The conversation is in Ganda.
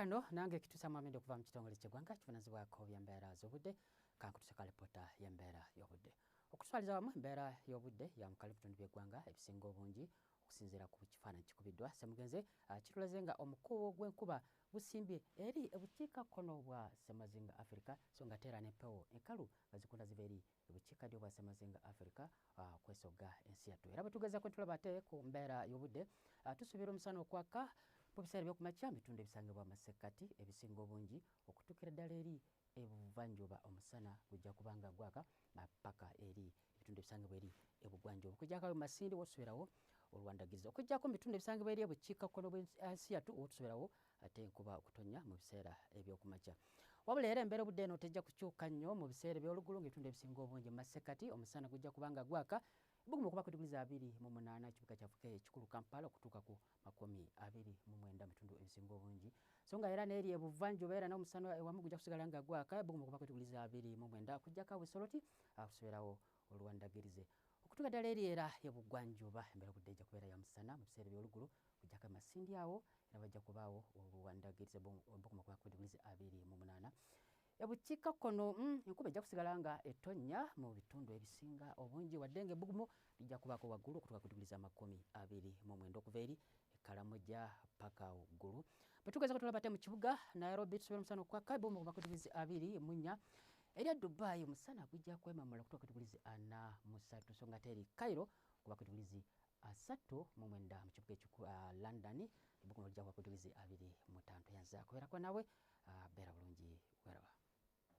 Kano nange kitusa mwamende okuva mu kitongole ky'eggwanga kivunazibwako by'embeera z'obudde kankutuse ka lipoota y'embeera y'obudde okuswaliza wamu embeera y'obudde yamukali bitundu by'eggwanga ebisinga obungi okusinziira ku kifaananyi kikubiddwa semugenze ah, kitulaze nga omukuubo gw'enkuba gusimbye eri ebukiika kkono bwa semazinga afirika so nga teera n'empewo enkalu nga zikunda ziva eri ebukiika ddyo bwasemazinga Africa uh, kwesogga ensi yattu era bwetugezako ntulaba ate ku mbeera y'obudde uh, tusuubira omusana okwaka mu biseera by'okumakya mu bitundu ebisangibwa amasekkati ebisinga obungi okutuukira ddala eri ebuvanjuba omusana gujja kubanga gwaka uh, paka eri ebitundu ebisangibwa eri ebugwanjuba okujjakawo masindi wotusubirawo olwandagiriza okujjako mu bitundu ebisangibwa eri ebukiikakkono bwensi yattu wotusubirawo ate enkuba okutonya mu biseera ebyokumakya wabula era embeera obudde eno tejja kukyuka nnyo mu biseera ebyolugulu ngaebitundu ebisinga obungi mu masekati omusana gujja kubanga gwaka ebuguma okuba ku diguli za abiri mu munaana ekibuga kyafuka ekikulu kampala okutuuka ku makumi abiri mu mwenda mubitundu ebisinga obungi so nga era neeri ebuvanjuba era n'omusana ewamu gujja kusigala nga gwaka ebuguma okuba ku diguli za abiri mu mwenda okujjako abusoloti akusubirawo olwandagirize okutuuka ddala eri era ebugwanjuba embeera obudde ejja kubeera ya musana mu biseera ebyolugulu Kujja kama sindi awo era bajja kubaawo obuwandagiiriza bukuma kuba ku diguli abiri mu munaana ebukiika kkono mm, enkuba ejja kusigala nga etonnya mu bitundu ebisinga obungi wadde nga ebbugumu lijja kubaako waggulu okutuuka ku diguli z'amakumi abiri mu mwenda okuva eri ekalamoja paka waggulu bwe tugeza kutulaba ate mu kibuga nairobi tusobola omusana okwaka ebbugumu okuva ku diguli abiri mu nnya erya dubai omusana gujja kwemamula okutuuka ku diguli ana mu ssatu so nga ate eri cairo okuba ku diguli asattu mu mwenda mu kibuga ekiku uh, london ebuguno lija kuba kudiwizi abiri mutantu yanza kubeerako nawe uh, beera bulungi weraba